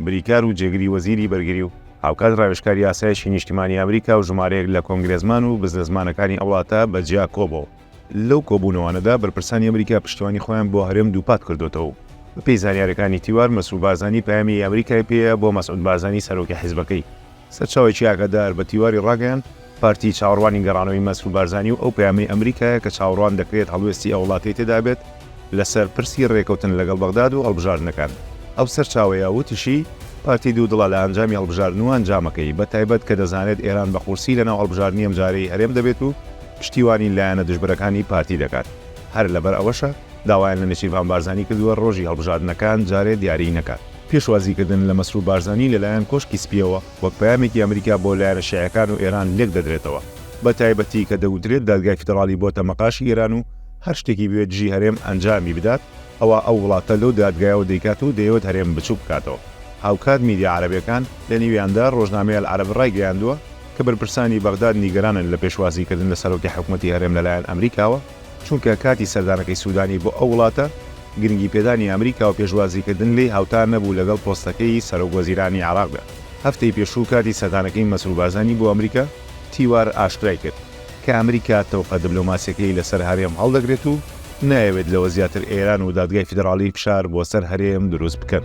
بریکار و جێگری وەزیری بەرگری و هاوکات ڕاوێژکاری ئاسایشی نیشتیمانی ئەمریکا و ژمارەیەک لە کۆنگرێسمان و بزنسمانەکانی ئەو وڵاتە بە جیا کۆبۆوە. لەو کۆبوونەوانەدا بەرپرسانی ئەمریکا پشتیوانی خۆیان بۆ هەرێم دووپات کردۆتەوە و بەپێی زانیاریەکانی تیوار مەسرور بارزانی پەیامی ئەمریکای پێیە بۆ مەسعود بارزانی سەرۆکی حیزبەکەی. سەرچاوەیەکی ئاگادار بە تیواری ڕاگەیاند، پارتی چاوەڕوانی گەڕانەوەی مەسرور بارزانی و ئەو پەیامەی ئەمریکایە کە چاوەڕوان دەکرێت هەڵوێستی ئەو وڵاتەی تێدابێت لەسەر پرسی ڕێکەوتن لەگەڵ بەغداد و هەڵبژاردنەکان. ئەو سەرچاوەیە وتیشی، پارتی دوودڵە لە ئەنجامی هەڵبژاردن و ئەنجامەکەی، بە تایبەت کە دەزانێت ئێران بە قورسی لەناو هەڵبژاردنی ئەمجارەی هەرێم دەبێت و پشتیوانی لایەنە دژبەرەکانی پارتی دەکات، هەر لەبەر ئەوەشە داوایان لە نێچیرڤان بارزانی کردووە ڕۆژی هەڵبژاردنەکان جارێ دیاریی نەکات. پێشوازیکردن لە مەسرور بارزانی لەلایەن کۆشکی سپییەوە وەک پەیامێکی ئەمریکا بۆ لایەنە شیعەکان و ئێران لێکدەدرێتەوە، بەتایبەتی کە دەگوترێت دادگای فیدراڵی بۆتە مەقاشی ئێران و هەر شتێکی بوێت دژی هەرێم ئەنجامی بدات، ئەوا ئەو وڵاتە لەو دادگایەوە دەیکات و دەیەوێت هەرێم بچووک بکاتەوە. هاوکات میدیا عەرەبییەکان، لەنێویاندا ڕۆژنامەی ئەلعەرەب ڕایگەیاندووە کە بەرپرسانی بەغداد نیگەرانن لە پێشوازیکردن لە سەرۆکی حکومەتی هەرێم لەلایەن ئەمریکاوە، چونکە کاتی سەردانەکەی سودانی بۆ ئەو وڵاتە، گرنگیپێدانی ئەمریکا و پێشوازیکردن لێی هاوتا نەبوو لەگەڵ پۆستەکەی سەرۆکوەزیرانی عێراقدا. هەفتەی پێشوو کاتی سەردانەکەی مەسرور بارزانی بۆ ئەمریکا، تیوار ئاشکرای کرد، کە ئەمریکا تەوقە دبلۆماسییەکەی لەسەر هەرێم هەڵدەگرێت و نایەوێت لەوە زیاتر ئێران و دادگای فیدراڵی فشار بۆ سەر هەرێم دروست بکەن.